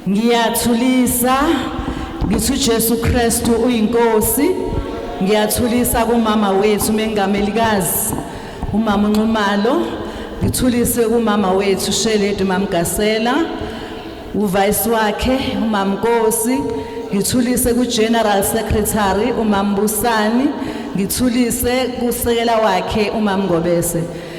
Ngiyathulisa ngithi uJesu Kristu uyinkosi. Ngiyathulisa kumama wethu mengamelikazi umama uNxumalo. Ngithulise kumama wethu Sheledi Mamgasela uvice wakhe umama Nkosi. Ngithulise kuGeneral Secretary umama Busani. Ngithulise kusekela wakhe umama Ngobese.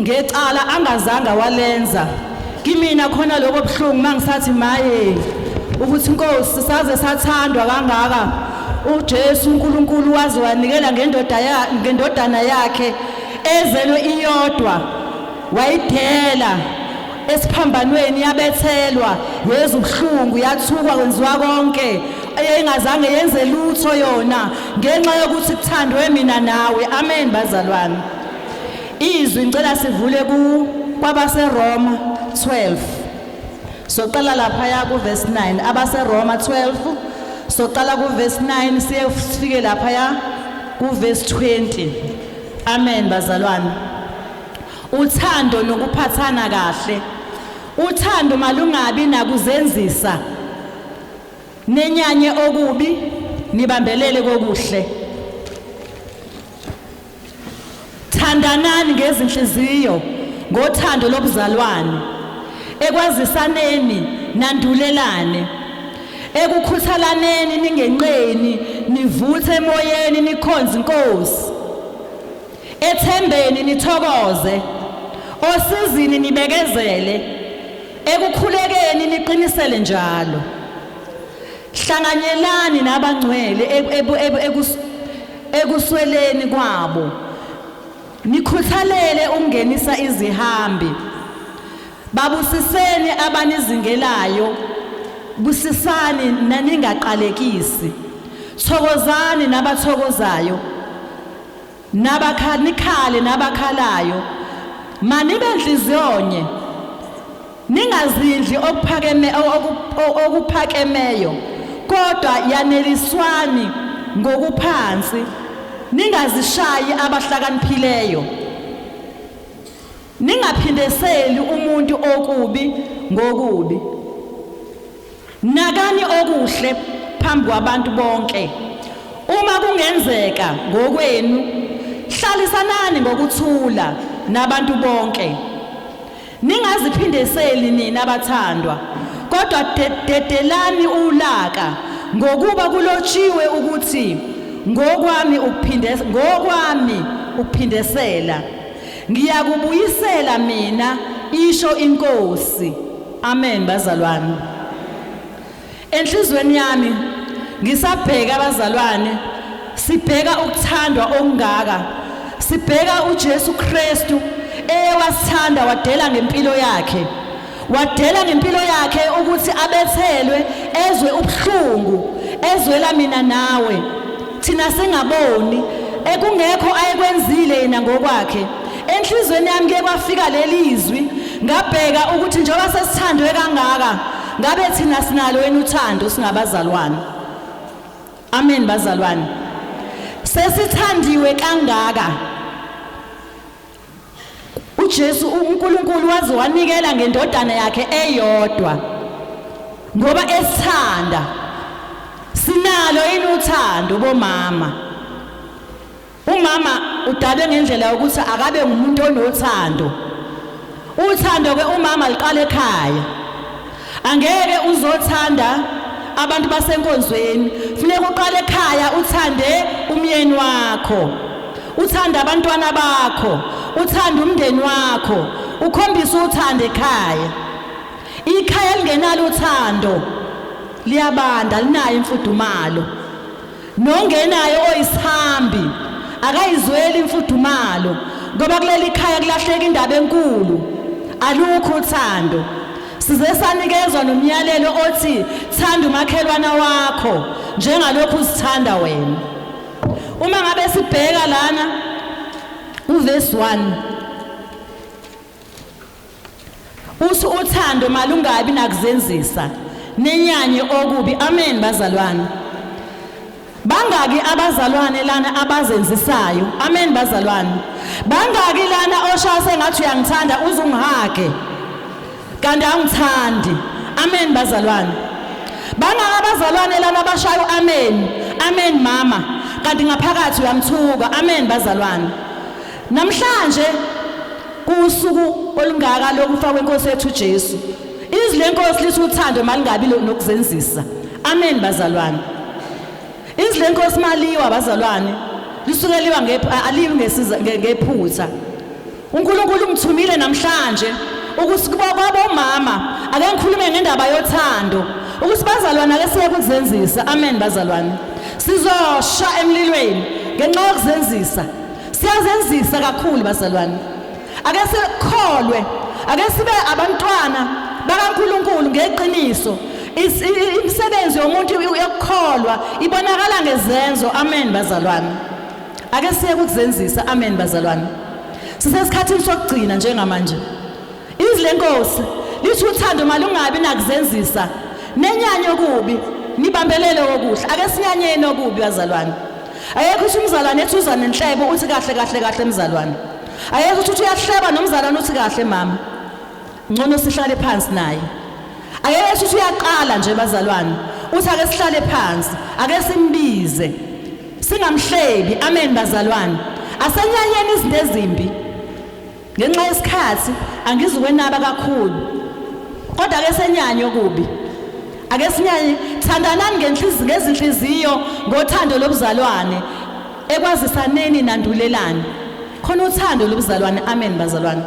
ngecala angazange walenza kimina khona lokho buhlungu mangisathi maye ukuthi inkosi saze sathandwa kangaka uJesu uNkulunkulu waze wanikela ngendoda ya ngendodana yakhe ezelwe iyodwa wayidela esiphambanweni yabethelwa yezwa ubuhlungu yathukwa kwenziwa konke eyayingazange yenze lutho yona ngenxa yokuthi kuthandwe mina nawe amen bazalwane Izwi ngicela sivule ku kwabaseRoma 12. Soqala lapha ya ku verse 9 abaseRoma 12 soqala ku verse 9 siye sifike lapha ya ku verse 20. Amen bazalwane. Uthando nokuphathana kahle. Uthando malungabi nakuzenzisa. Nenyanye okubi nibambelele kokuhle. Thandanani ngezinhliziyo ngothando lobuzalwane, ekwazisaneni nandulelane, ekukhuthalaneni ningenqeni, nivuthe emoyeni nikhonze iNkosi. Ethembeni nithokoze, osizini nibekezele, ekukhulekeni niqinisele njalo. Hlanganyelani nabangcwele ekusweleni kwabo nikhuthalele ukungenisa izihambi babusiseni abanizingelayo busisani naningaqalekisi thokozani nabathokozayo nabakha nikhale nabakhalayo manibe nhliziyonye Ningazidli okuphakeme okuphakemeyo, kodwa yaneliswani ngokuphansi, ningazishayi abahlakaniphileyo, ningaphindeseli umuntu okubi ngokubi. Nakani okuhle phambi kwabantu bonke. Uma kungenzeka ngokwenu, hlalisanani ngokuthula nabantu bonke. Ningaziphindiseli nina bathandwa, kodwa dedelani ulaka ngokuba kulotshiwe ukuthi ngokwami ukuphindesa ngokwami ukuphindesela ngiyakubuyisela mina isho inkosi Amen bazalwane. Enhlizweni yami ngisabheka abazalwane sibheka ukuthandwa okungaka. Sibheka uJesu Kristu eyewasithanda wadela ngempilo yakhe. Wadela ngempilo yakhe ukuthi abethelwe ezwe ubuhlungu ezwela mina nawe. thina singaboni ekungekho ayekwenzile yena ngokwakhe enhlizweni yami ke kwafika lelizwi ngabheka ukuthi njengoba sesithandwe kangaka ngabe thina sinalo yena uthando singabazalwane amen bazalwane sesithandiwe kangaka uJesu uNkulunkulu waze wanikela ngendodana yakhe eyodwa ngoba esithanda sinalo yini uthando bomama umama udalwe ngendlela yokuthi akabe ngumuntu onothando uthando ke umama liqala ekhaya Angeke uzothanda abantu basenkonzweni. Funeka uqale ekhaya uthande umyeni wakho. Uthande abantwana bakho, uthande umndeni wakho, ukhombise uthando ekhaya. Ikhaya elingenalo uthando liyabanda linayo imfudumalo. Nongenayo oyisihambi akayizweli imfudumalo ngoba kuleli khaya kulahleka indaba enkulu. Alukho uthando. Size sanikezwa nomyalelo othi thanda umakhelwana wakho njengalokhu uzithanda wena. Uma ngabe sibheka lana uverse 1 Us uthando malungabi nakuzenzisa nenyanye okubi amen bazalwane Bangaki abazalwane lana abazenzisayo amen bazalwane Bangaki lana oshaya sengathi uyangithanda uzungihage kanti angithandi amen bazalwane Bangaki abazalwane lana abashayo amen amen mama kanti ngaphakathi uyamthuka amen bazalwane Namhlanje kuwusuku olungaka lokufa kwenkosi yethu Jesu. Izwi lenkosi lithi uthando malingabi nokuzenzisa. Amen bazalwane. Izwi lenkosi maliwa bazalwane. Lisuke liwa aliwi ngesiza ngephutha. uNkulunkulu ungithumile namhlanje ukuthi kuba kwabomama ake ngikhulume ngendaba yothando ukuthi bazalwane ake siye kuzenzisa amen bazalwane sizosha emlilweni ngenxa yokuzenzisa Siyazenzisa kakhulu bazalwane. Ake sikholwe, ake sibe abantwana bakaNkuluNkulu ngeqiniso. Imisebenzi yomuntu yokukholwa ibonakala ngezenzo. Amen bazalwane. Ake siye kuzenzisa. Amen bazalwane. Sisesikhathini sokugcina njengamanje. Izwi lenkosi lithi uthando malungabi nakuzenzisa nenyanya okubi nibambelele okuhle ake sinyanyeni okubi bazalwane ayekho ukuthi umzalwane ethi uza nenhlebo uthi kahle kahle kahle mzalwane ayekho ukuthi uyahleba nomzalwane uthi kahle mama ngcono sihlale phansi naye ayekho ukuthi uyaqala nje bazalwane uthi ake sihlale phansi ake simbize singamhlebi amen bazalwane asenyanyeni izinto ezimbi Ngenxa yesikhathi angizukwenaba kakhulu kodwa ke senyanye okubi ake sinyanye thandanani ngenhliziyo ngezinhliziyo ngothando lobuzalwane ekwazisaneni nandulelani khona uthando lobuzalwane amen bazalwane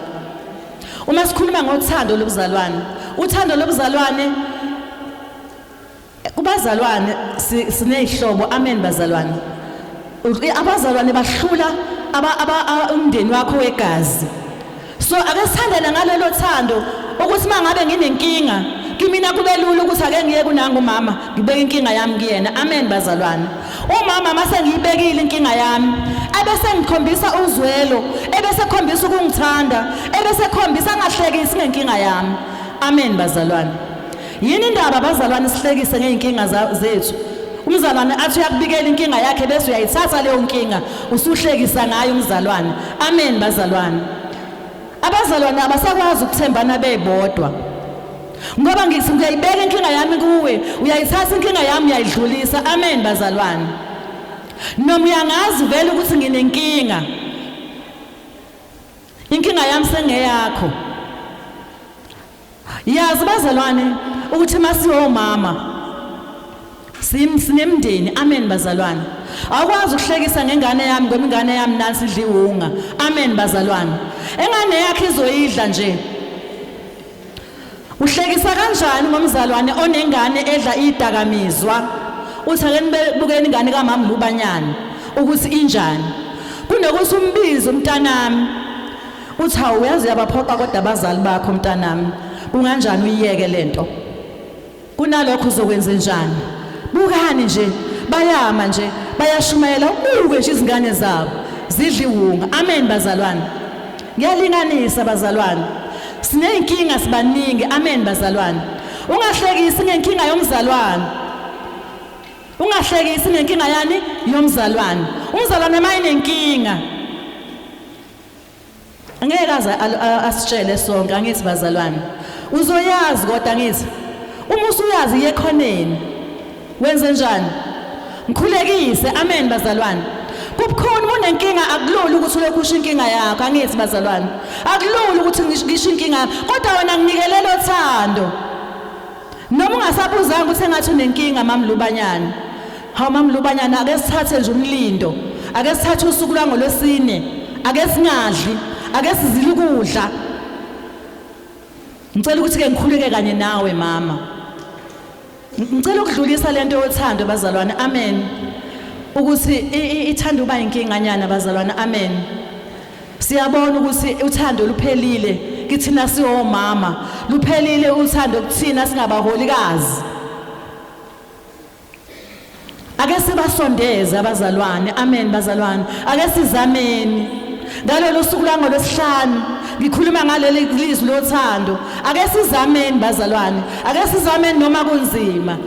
uma sikhuluma ngothando lobuzalwane uthando lobuzalwane Kubazalwane sinezihlobo amen bazalwane. Abazalwane bahlula aba umndeni wakho wegazi. So ake sithandane ngalelo thando ukuthi mangabe nginenkinga kimina kube lula ukuthi ake ngiye kunangu mama ngibeke inkinga yami kuyena amen bazalwane umama mase ngiyibekile inkinga yami ebese ngikhombisa uzwelo ebese khombisa ukungithanda ebese khombisa ngahlekisi ngenkinga yami amen bazalwane Yini indaba abazalwane sihlekise ngey'nkinga za- zethu? Umzalwane athi uyakubikela inkinga yakhe bese uyayithatha leyo nkinga usuhlekisa ngayo umzalwane. Amen bazalwane. Abazalwane abasakwazi ukuthembana bebodwa. Ngoba ngithi ngiyayibeka inkinga yami kuwe, uyayithatha inkinga yami uyayidlulisa. Amen bazalwane. Noma uyangazi vele ukuthi nginenkinga. Inkinga yami sengeyakho. Yazi bazalwane ukuthi masiwomama sim sinemndeni amen bazalwane awukwazi ukuhlekisa ngengane yami ngoba ingane yami nansi idliwunga amen bazalwane engane yakhe izoyidla nje uhlekisa kanjani ngomzalwane onengane edla idakamizwa uthi ake nibukeni ingane kamama lubanyana ukuthi injani kunokuthi umbize umntanami Uthi hawu uyazi uyabaphoqa kodwa abazali bakho mntanami. Kunganjani uyiyeke lento? Kunalokho uzokwenze njani? Bukani nje bayama nje bayashumayela ubuke nje izingane zabo zidla iwunga. Amen bazalwane. Ngiyalinganisa bazalwane. Sineyinkinga sibaningi. Amen bazalwane. Ungahlekisi ngenkinga yomzalwane. Ungahlekisi ngenkinga yani yomzalwane. Umzalwane mayinenkinga Ngeke aze asitshele sonke angithi bazalwane. Uzoyazi kodwa ngithi uma usuyazi yekhoneni wenze njani? Ngikhulekise amen bazalwane. Kubukhona unenkinga akulula ukuthi ulokhu usho inkinga yakho angithi bazalwane. Akulula ukuthi ngisho inkinga kodwa wena nginikele lothando. Noma ungasabuzanga ukuthi engathi unenkinga mamlubanyana. Hawu mamlubanyana ake sithathe nje umlindo. Ake sithathe usuku lwangolwesine. Ake singadli, ake sizile ukudla. Ngicela ukuthi ke ngikhuleke kanye nawe mama. Ngicela ukudlulisa lento yothando bazalwane. Amen. Ukuthi ithanda uba inkinganyana bazalwane. Amen. Siyabona ukuthi uthando luphelile kithina siwomama, luphelile uthando kuthina singabaholikazi. Ake sibasondeze abazalwane. Amen bazalwane. Ake sizameni. Ngalolu suku langolwesihlanu ngikhuluma ngaleli lizwi lothando. Ake sizameni bazalwane. Ake sizameni noma kunzima.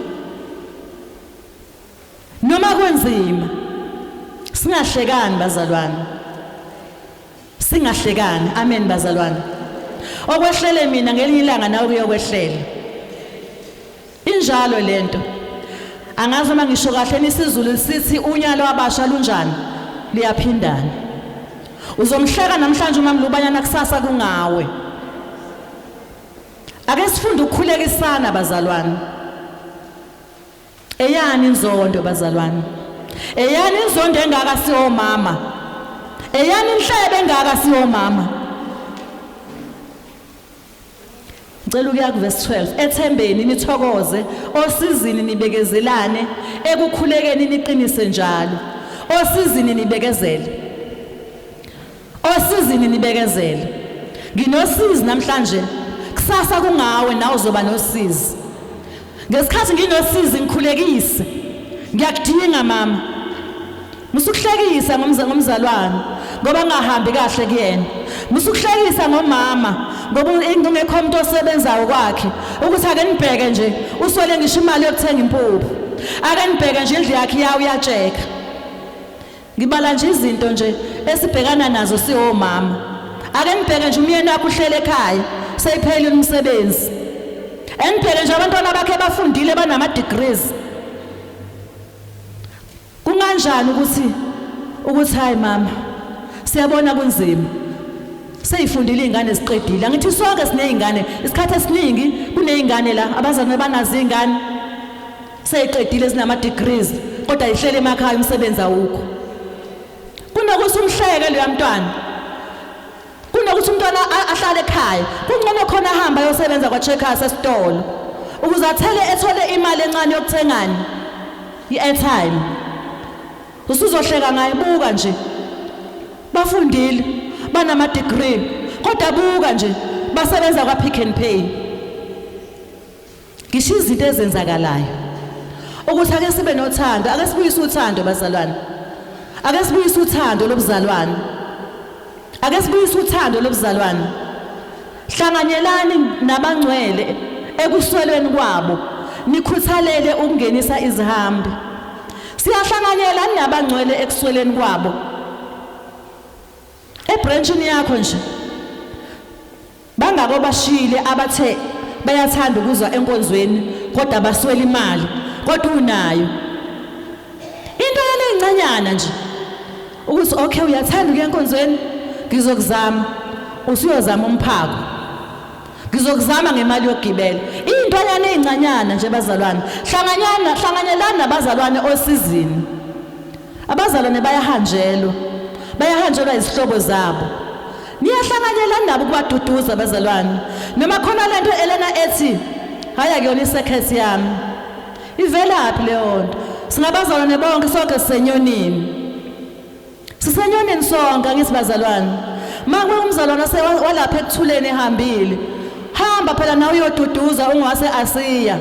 Noma kunzima singahlekani bazalwane. Singahlekani. Amen bazalwane. Okwehlele mina ngelinye ilanga nawe kuyokwehlela. Injalo lento. Angazi uma ngisho kahle nisizulu sithi unyalo wabasha lunjani liyaphindana. Uzomhleka namhlanje uma mlubanyana kusasa kungawe. Ake sifunde ukukhulekisana bazalwane. Eyani inzondo bazalwane. Eyani inzondo engaka siomama. Eyani inhlebe engaka siomama. Ngicela ukuya ku verse 12. Ethembeni nithokoze, osizini nibekezelane, ekukhulekeni niqinise njalo. Osizini nibekezele. Osizini nibekezele. Nginosizi namhlanje. Kusasa kungawe nawe uzoba nosizi. Ngesikhathi nginosizi ngikhulekise. Ngiyakudinga mama. Musukuhlekisa ngomzalwane ngoba ngahambi kahle kuyena. Musukuhlekisa ngomama ngoba ingekho umuntu osebenzayo kwakhe ukuthi ake nibheke nje uswele ngisho imali yokuthenga impuphu. Ake nibheke nje indlu yakhe yawo uyatsheka. Ngibala nje izinto nje esibhekana nazo siwomama. Ake nibheke nje umyeni wakho uhlele ekhaya, seyiphelile umsebenzi. Enibheke nje abantwana bakhe bafundile banama degrees. Kunganjani ukuthi ukuthi hayi mama siyabona kunzima. Seyifundile izingane siqedile. Angithi sonke sinezingane. Isikhathi esiningi kunezingane la abazane banazo izingane. seyiqedile zinama degrees kodwa ihlele emakhaya umsebenzi awukho kunokuthi umhleke loya mntwana kunokuthi umntwana ahlale ekhaya kungcono khona ahamba ayosebenza kwa-checkers esitolo ukuze athele ethole imali encane yokuthengani i-airtime usuzohleka ngaye buka nje bafundile banama-degree kodwa buka nje basebenza kwa-pick and pay Ngisho izinto ezenzakalayo ukuthi ake sibe nothando, ake sibuyise uthando bazalwane. Ake sibuyise uthando lobuzalwane. Ake sibuyise uthando lobuzalwane. Hlanganyelani nabangcwele ekuswelweni kwabo nikhuthalele ukungenisa izihambi. Siyahlanganyela nabangcwele ekusweleni kwabo. Ebranchini yakho nje Bangaki obashiyile abathe bayathanda ukuza enkonzweni kodwa baswela imali kodwa unayo into yale incanyana nje ukuthi okay uyathanda ukuya enkonzweni ngizokuzama usuyozama umphako ngizokuzama ngemali yokugibela intwanyana ezincanyana nje bazalwane hlanganyana hlanganyelana nabazalwane osizini Abazalwane bayahanjelwa, bayahanjelwa izihlobo zabo. Niyahlanganyela nabo ukubaduduza abazalwane. Noma khona lento Elena ethi hayi akuyona i-circuit yami. Ivelaphi leyo nto? Singabazalwane bonke sonke sisenyonini. Sisenyonini sonke angithi bazalwane. Makuwe umzalwane walapha ekuthuleni ehambile. Hamba phela nawe uyoduduza ungwase asiya.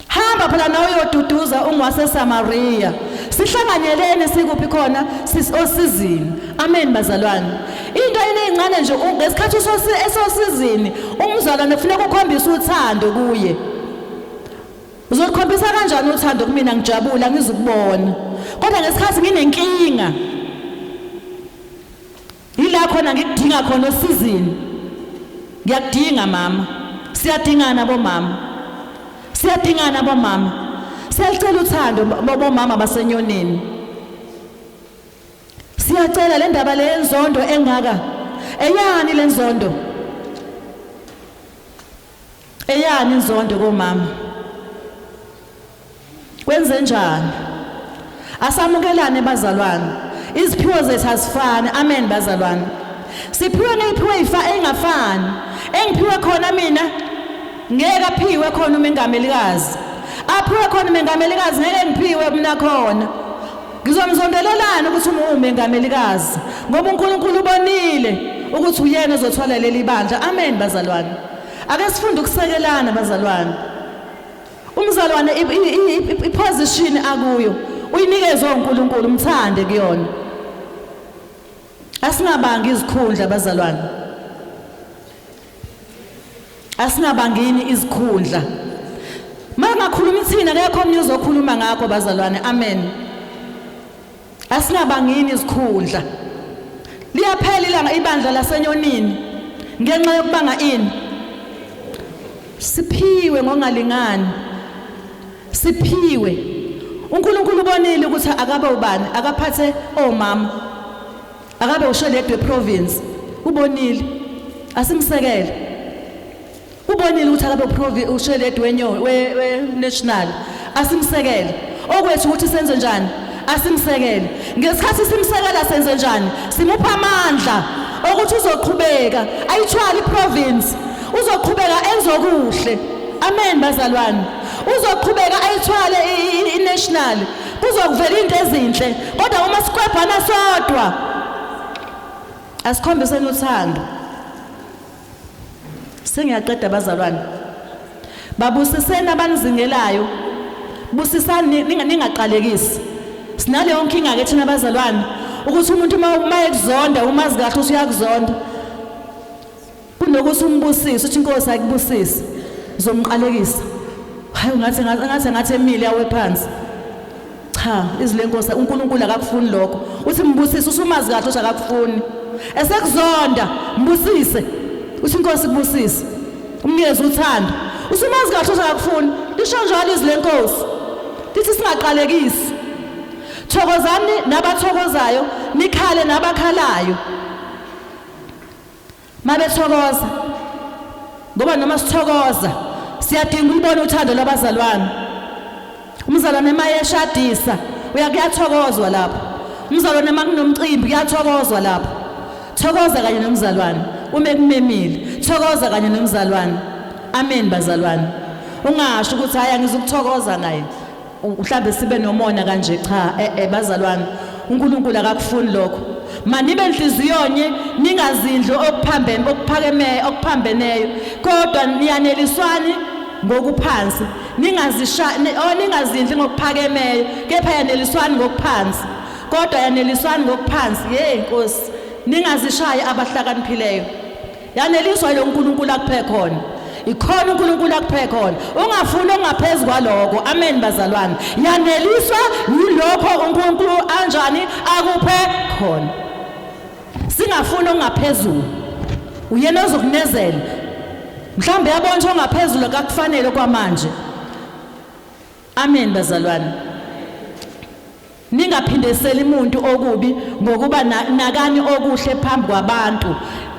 Hamba phela nawe uyoduduza ungwase Samaria. Sihlanganyeleni sikuphi khona sisosizini. Amen bazalwane. Into enezincane nje ngesikhathi usosizini umzalwane kufuneka ukhombise uthando kuye. Uzokhombisa kanjani uthando kumina ngijabula ngizukubona. Kodwa ngesikhathi nginenkinga Yila khona ngikudinga khona osizini. Ngiyakudinga mama. Siyadingana bomama. Siyadingana bomama. Siyalicela uthando bomama basenyonini. Siyacela le ndaba le yenzondo engaka. Eyani le nzondo? Eyani inzondo komama? Kwenzenjani? Asamukelane bazalwane. Iziphiwo zethu azifani. Amen bazalwane. Siphiwe ngiphiwe ifa engafani. Engiphiwe khona mina ngeke aphiwe khona umengamelikazi. Aphiwe khona umengamelikazi ngeke ngiphiwe mina khona. Ngizomzondelelana ukuthi umengamelikazi ngoba uNkulunkulu ubonile ukuthi uyena ozothwala leli bandla. Amen bazalwane. Ake sifunde ukusekelana bazalwane. Umzalwane iposition akuyo uyinikezwe uNkulunkulu umthande kuyona. Asingabanga izikhundla abazalwane. Asingabangini izikhundla. Mangakhuluma ithina akekho omnye uzokhuluma ngakho bazalwane. Amen. Asingabangini izikhundla. Liyaphela ilanga ibandla lasenyonini ngenxa yokubanga ini? Siphiwe ngongalingani. Siphiwe. UNkulunkulu ubonile ukuthi akabe ubani, akaphathe omama. Akabe usheledwe province. Ubonile. Asimsekele. Ubonile ukuthi akabe provi usheledi wenyo we, we national asimsekele. Okwethu ukuthi senze njani? Asimsekele. Ngesikhathi simsekela senze njani? Simupha amandla okuthi uzoqhubeka ayithwali province uzoqhubeka enze okuhle. Amen bazalwane. Uzoqhubeka ayithwale i-national. Kuzokuvela into ezinhle kodwa uma sikwebhana sodwa asikhombiseni uthando. Sengiyaqeda bazalwane. Babusiseni abanizingelayo. Busisani ningaqalekisi. Sinaleyo nkinga ke thina bazalwane ukuthi umuntu uma uma ekuzonda umazi kahle ukuthi uyakuzonda. Kunokuthi umbusise uthi inkosi ayikubusise. Zomqalekisa. Hayi ngathi ngathi ngathi emile awe phansi. Cha, izwi lenkosi uNkulunkulu akakufuni lokho. Uthi mbusise usumazi kahle ukuthi akakufuni. Esekuzonda mbusise. Uthi inkosi kubusise. Umnikeze uthando. Usumazi kahle ukuthi akakufuni. Lisho njalo izwi lenkosi. Lithi singaqalekisi. Thokozani nabathokozayo, nikhale nabakhalayo. Mabethokoza ngoba noma sithokoza siyadinga ulibona uthando lwabazalwane. Umzalwane mayeshadisa uyakuyathokozwa lapho. Umzalwane makunomcimbi kuyathokozwa lapho. Thokoza kanye nomzalwane uma ekumemile. Thokoza kanye nomzalwane. Amen bazalwane. Ungasho ukuthi hayi angizukuthokoza naye. mhlambe sibe nomona kanje cha eh, eh bazalwane uNkulunkulu akakufuni lokho manibe enhliziyonye ningazindlu okuphambene okuphakeme okuphambeneyo kodwa niyaneliswani ngokuphansi ningazisha oh, ningazindli ngokuphakemeyo kepha yaneliswani ngokuphansi kodwa yaneliswani ngokuphansi hey nkosi ningazishayi abahlakaniphileyo Yaneliswa lo Nkulunkulu akuphe khona. Ikhona uNkulunkulu akuphe khona. Ungafuni ongaphezulu kwaloko. Amen bazalwane. Yaneliswa yilokho uNkulunkulu anjani akuphe khona. Singafuni ongaphezulu. Uyena ozokunezela. Mhlawumbe yabona ongaphezulu kakufanele kwamanje. Amen bazalwane. Ningaphindeseli umuntu okubi ngokuba nakani okuhle phambi kwabantu.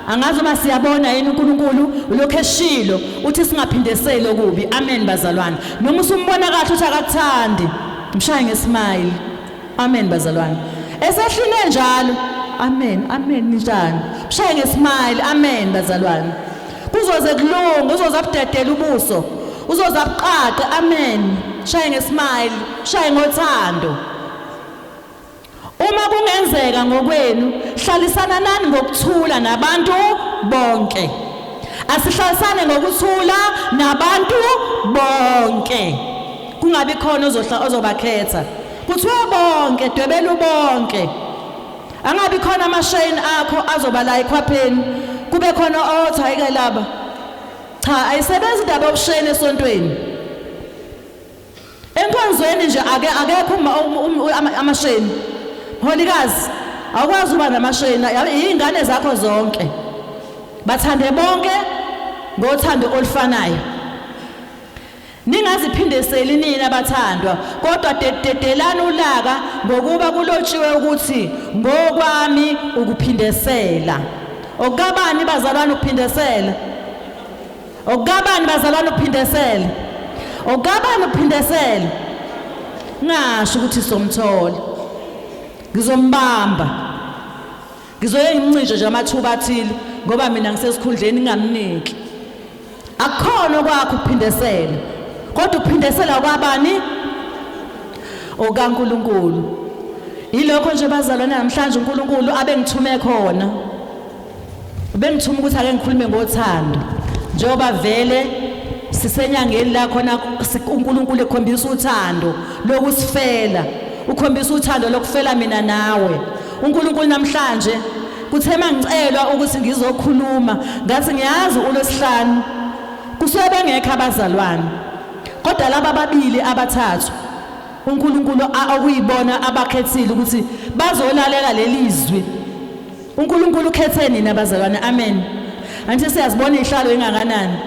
Angazi uma siyabona yini uNkulunkulu ulokhu eshilo uthi singaphindeseli okubi. Amen bazalwane. Noma usumbona kahle uthi akakuthandi. Mshaye ngesmile. Amen bazalwane. Esehline njalo. Amen. Amen njani. Mshaye ngesmile. Amen bazalwane. Kuzoze kulunge, uzoza kudedela ubuso. Uzoza kuqaqe. Amen. Mshaye ngesmile. Mshaye ngothando. Uma kungenzeka ngokwenu, hlalisana nani ngokuthula nabantu bonke. Asihlalisane ngokuthula nabantu bonke. Kungabi khona ozobakhetha. Kuthiwa bonke dwebelu bonke. Angabi khona amashayini akho azoba la ekhwapheni. Kube khona othi hayike laba. Cha ayisebenzi indaba yokushayina esontweni. Enkonzweni nje ake akekho amashayini. Mholikazi awukwazi uba namashayini izingane zakho zonke. Bathande bonke ngothando olufanayo. Ningaziphindiseli nina bathandwa, kodwa dedelani ulaka, ngokuba kulotshiwe ukuthi, Ngokwami ukuphindesela. Okukabani bazalwane ukuphindesela? Okukabani bazalwane ukuphindesela? Okukabani ukuphindesela? Ngasho ukuthi somthola. Ngizombamba. Ngizoye ngimncishe nje amathuba athile ngoba mina ngisesikhundleni ngingamniki. Akukhona okwakho ukuphindesela. Kodwa ukuphindesela kwabani? OkaNkulunkulu. Yilokho nje bazalwane namhlanje uNkulunkulu abengithume khona. Ubengithuma ukuthi ake ngikhulume ngothando. Njengoba vele sisenyangeni la khona uNkulunkulu ekhombisa uthando lokusifela. Ukhombisa uthando lokufela mina nawe. uNkulunkulu namhlanje kuthe mangicelwa ukuthi ngizokhuluma ngathi ngiyazi uLwesihlanu kusuke bengekho abazalwane kodwa laba babili abathathu uNkulunkulu okuyibona abakhethile ukuthi bazolalela lelizwi uNkulunkulu ukhethe nina bazalwane amen anti siyazibona ihlalo engakanani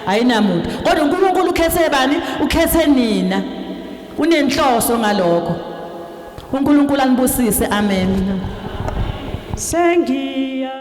ayinamuntu kodwa uNkulunkulu ukhethe bani ukhethe nina unenhloso ngalokho uNkulunkulu anibusise amen sengiya